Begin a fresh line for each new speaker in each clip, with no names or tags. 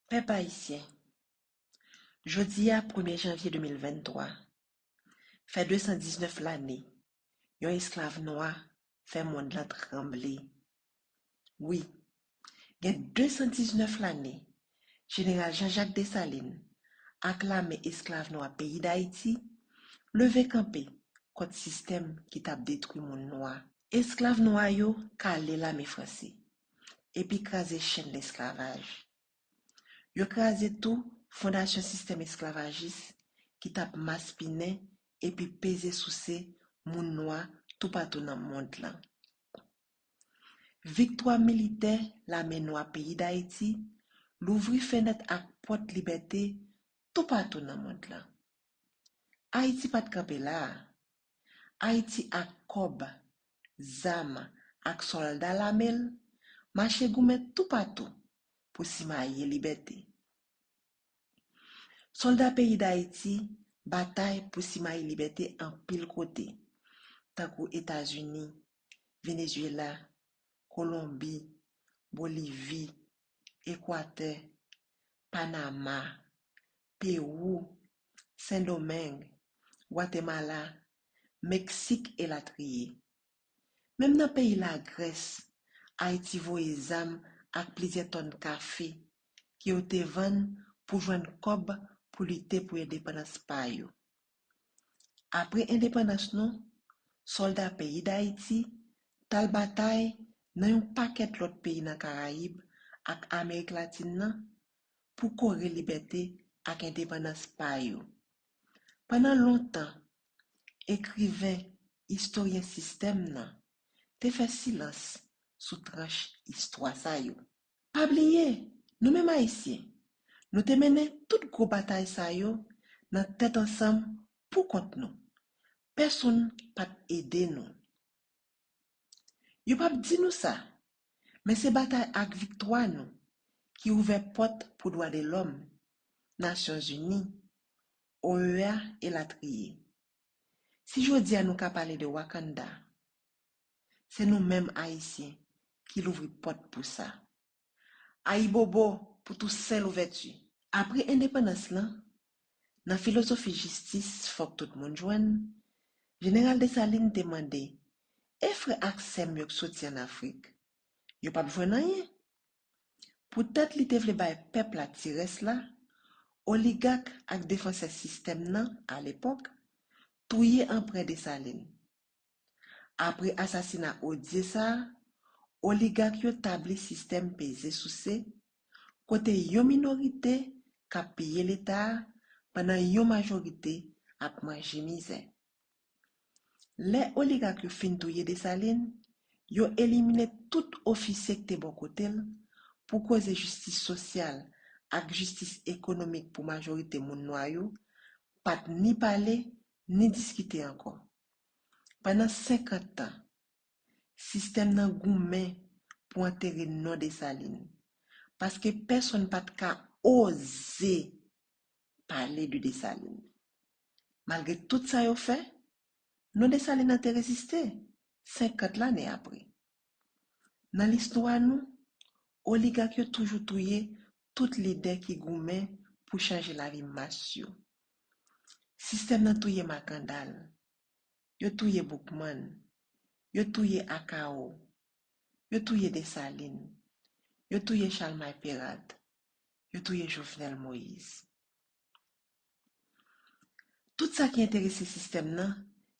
Pèp Ayisyen, Jodi a premye janvye 2023, fè 219 lane yon esklav nwa fè mond lan tranble. Wi, gen 219 lane Jeneral Jean Jacques Dessalines ak lame esklav nwa peyi Dayiti leve kanpe kont sistèm ki t ap detwi moun nwa. Esklav nwa yo kale lame franse epi kraze chenn lesklavaj. Yo kraze tou fondasyon sistèm esklavajis ki t ap maspinen epi peze souse moun nwa toupatou nan mond lan. Viktwa militè lame nwa peyi Dayiti louvri fenèt ak pòt libète toupatou nan mond lan. Ayiti pa t kanpe la a. Ayiti ak kòb, zam ak sòlda lame l mache goumen toupatou pou simaye libète. Sòlda peyi Dayiti batay pou simaye libète anpil kote, tankou Etazini, Venezyela, Kolonbi, Bolivi, Ekwatè, Panama, Pewou, Sendomeng, Gwatemala, Meksik elatriye. Menm nan peyi Lagrès, Ayiti voye zam ak plizyè tòn kafe ke yo te vann pou jwenn kòb pou lite pou endepandans pa yo. Apre endepandans nou, sòlda peyi Dayiti t al batay nan yon pakèt lòt peyi nan Karayib ak Amerik Latin nan pou kore libète ak endepandans pa yo. Pandan lontan, ekriven, istoryen sistèm nan, te fè silans sou tranch istwa sa yo. Pa bliye, nou menm Ayisyen, nou te mennen tout gwo batay sa yo nan tèt ansanm pou kont nou. Pèsonn pa t ede nou. Yo pap di nou sa, men se batay ak viktwa nou ki ouvè pòt pou dwadelòm, Nasyonzini, OEA elatriye. Si jodi a nou ka pale de Wakanda, se nou menm Ayisyen ki louvri pòt pou sa. Ayibobo pou Tousen Louvèti! Apre endepandans lan, nan filozofi jistis fòk tout moun jwenn, Jeneral Desalin te mande, E frè ak sè m yo k soti ann Afrik? Yo p ap jwenn anyen? Poutèt li te vle bay pèp la ti rès la, oligak ak defansè sistèm nan alepòk, touye Anprè Desalin. Apre asasina Odie sa, oligak yo tabli sistèm peze souse, kote yon minorite k ap piye Leta a pandan yon majorite ap manje mizè. Lè oligak yo fin touye Desalin, yo elimine tout ofisye k te bò kote l pou koze jistis sosyal ak jistis ekonomik pou majorite moun nwa yo pa t ni pale ni diskite ankò. Pandan 50 tan, sistèm nan goumen pou antere non Desalin, paske pèsonn pa t ka oze pale de Desalin. Malgre tout sa yo fè, non Desalin nan te reziste, 50 lane apre. Nan listwa nou, oligak yo toujou touye tout lidè ki goumen pou chanje lavi mas yo. Sistèm nan touye Makandal, yo touye Boukman, yo touye Akao, yo touye Desalin, yo touye Chalmay Perat, yo touye Jovenel Moïse. Tout sa ki enterese sistèm nan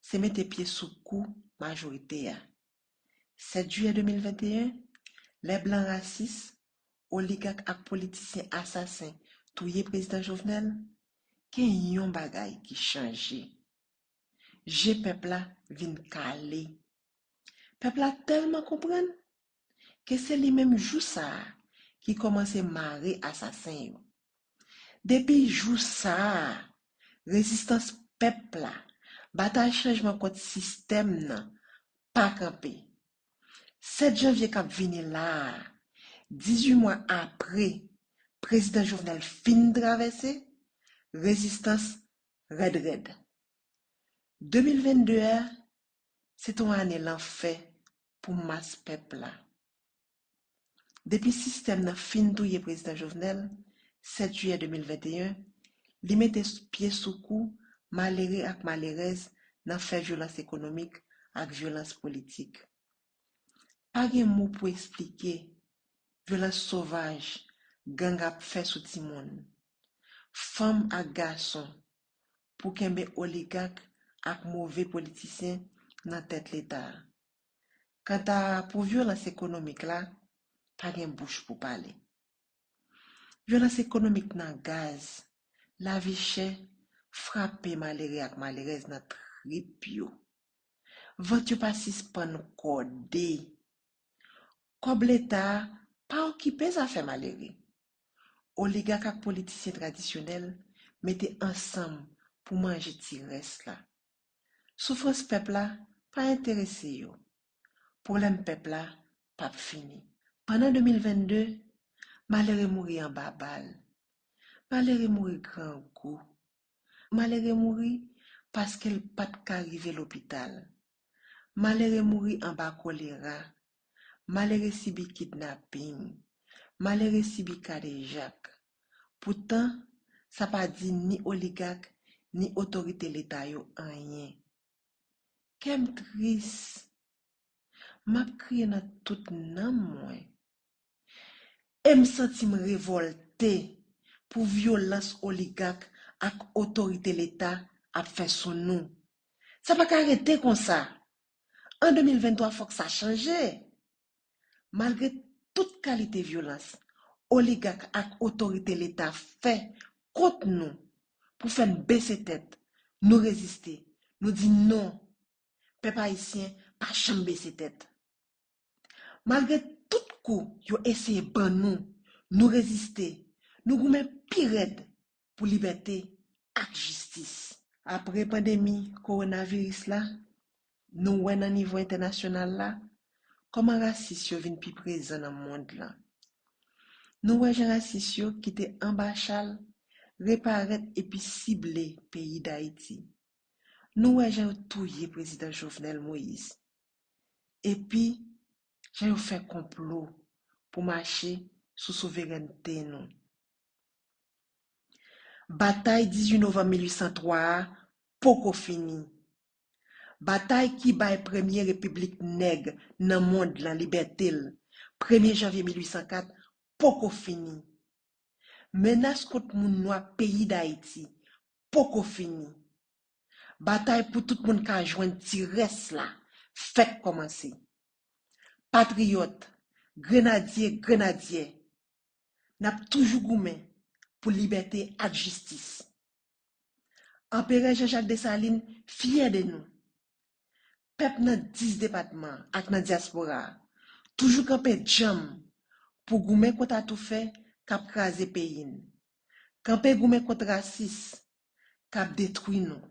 se mete pye sou kou majorite a. 7 jiyè 2021, lè blan rasis, oligak ak politisyen asasen touye prezidan Jovenel, gen yon bagay ki chanje. Je pèp la vin kale. Pèp la tèlman konprann ke se li menm jou sa a ki kòmanse mare asasen yo. Depi jou sa a, rezistans pèp la, batay chanjman kont sistèm nan, pa kanpe. 7 janvye k ap vini la a, 18 mwa apre Prezidan Jovenel fin travèse, rezistans rèd rèd. 2022 a, se te yon ane lanfè pou mas pèp la. Depi sistèm nan fin touye Prezidan Jovenel, 7 jiyè 2021, li mete pye sou kou malere ak malerèz nan fè vyolans ekonomik ak vyolans politik. Pa gen mo pou esplike vyolans sovaj gang ap fè sou timoun, fanm ak gason pou kenbe oligak ak move politisyen nan tèt Leta. Kanta pou vyolans ekonomik la, pa gen bouch pou pale. Vyolans ekonomik nan gaz, lavi chè, frape malere ak malerèz nan trip yo. Vant yo pa sispann kòde. Kòb Leta a pa okipe zafè malere. Oligak ak politisyen tradisyonèl mete ansanm pou manje ti rès la. Soufrans pèp la pa enterese yo. Pwoblèm pèp la p ap fini. Pandan 2022, malere mouri anba bal. Malere mouri grangou. Malere mouri paske l pa t ka rive lopital. Malere mouri anba kolera. Malere sibi kidnaping. Malere sibi kadejak. Poutan, sa pa di ni oligak, ni otorite Leta yo anyen. Kè m tris. M ap kriye nan tout nanm mwen. E m santi m revòlte pou vyolans oligak ak otorite Leta ap fè sou nou. Sa pa ka rete konsa! An 2023 fòk sa chanje! Malgre tout kalite vyolans oligak ak otorite leta fè kont nou pou fè n bese tèt, nou reziste, nou di non! Pèp ayisyen pa janm bese tèt! Malgre tout kou yo eseye ban nou, nou reziste, nou goumen pi rèd pou libète ak jistis. Apre pandemi kowonaviris la, nou wè nan nivo entènasyonal la, kòman rasis yo vin pi prezan nan mond lan. Nou wè jan rasis yo ki te anba chal reparèt epi sible peyi Dayiti. Nou wè jan yo touye Prezidan Jovenel Moïse. epi jan yo fè konplo pou mache sou souverènte nou. Batay 18 novanm 1803 a poko fini. Batay ki bay premye repiblik nèg nan mond lan libète l, premye janvye 1804, poko fini. Menas kont moun nwa peyi Dayiti poko fini. Batay pou tout moun ka jwenn ti rès la fèk kòmanse. Patriyòt, grenadye, grenadyè, n ap toujou goumen pou libète ak jistis. Anperè Jean Jacques Dessalines fyè de nou. Pèp nan 10 depatman ak nan dyaspora a toujou kanpe djanm pou goumen kont atoufè k ap kraze peyi n, kanpe goumen kont rasis k ap detwi nou,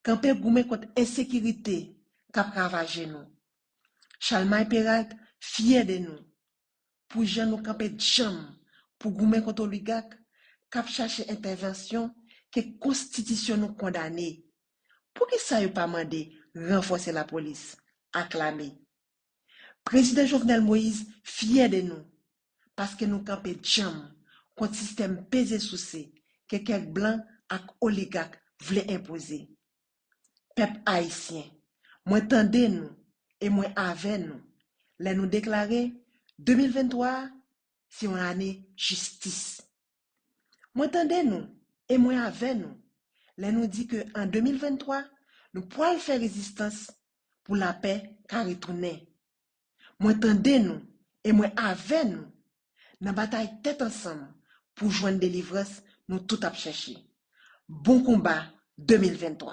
kanpe goumen kont ensekirite k ap ravaje nou. Chalmay Peralt fyè de nou, pou jan nou kanpe djanm pou goumen kont oligak k ap chache entèvansyon ke konstitisyon nou kondane. Poukisa yo pa mande ranfòse lapolis ak lame? Prezidan Jovenel Moïse fyè de nou paske nou kanpe djanm kont sistèm peze souse ke kèk blan ak oligak vle enpoze. Pèp Ayisyen, mwen tande nou e mwen avè nou lè nou deklare 2023 a se yon ane jistis. Mwen tande nou e mwen avè nou lè nou di ke an 2023 nou pwal fè rezistans pou lapè ka retounen. Mwen tande nou e mwen avè nou nan batay tèt ansanm pou jwenn delivrans nou tout ap chèche. Bon konba 2023.